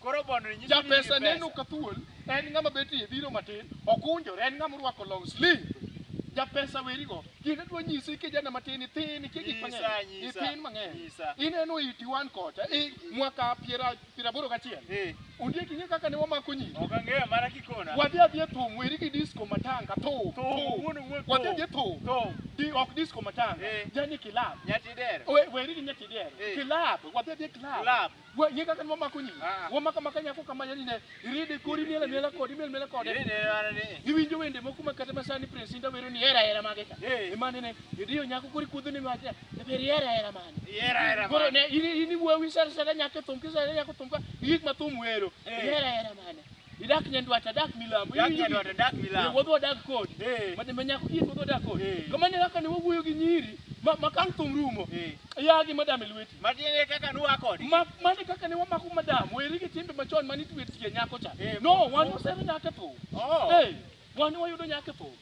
Koro bondo ni nyithindo Japesa nigi neno pesa. ka thuol en ng'ama betie biro matin okunjore en ng'ama orwako long sleeve. Japesa werigo kinde dwa nyisi kijana matin ithin ikia gik Nyisa, mang'eny nyisa, ithin mang'eny nyisa. ineno iti wan kocha i mwaka piera piera aboro gachiel Eh, ondiek ing'e kaka ne wamako nyiri ok ang'eyo mana kikona. wadhi adhia thum weri gi disco matanga thum Thum, thum. wuon wuon wadhi thum. adhia thum Thum. Di- ok disco matanga Eh. jani kilab Nyati dero. We- weri gi nyatidero Eh. kilab wadhi adhia kilab Club. Gwe nyinga kan momako nyingi. Ah. Wamaka maka nyako kama yani ne iride kori miela miela kodi miela miela kodi. Iride ara ne. Iwinjo wende moko ma kata masani prince inda wero ni era era mage ka. Eh. Imane ne idiyo nyako kori kudhu ni mage. Ne ber era era mane. Era era mane. Koro ne ini ini wewe sar sar nyako thum kisa nyako thum ka yik ma thum wero. Eh. Era era mane. Idak nyandwat adak milambo. Dak nyandwat adak milambo. Wuodh wadak kod. Mane ma nyako kies wuodh wadak kod. Kamane kaka ne wawuoyo gi nyiri ma ma kang thum rumo. Yagi madam e lweti. Matiende kaka nuwa kod. Ma mane kaka ne wamako madam weri gi timbe machon mane itwe tie nyako cha. No wan wasero nyako e thum. Oh. Hey, wan wayudo nyako e thum.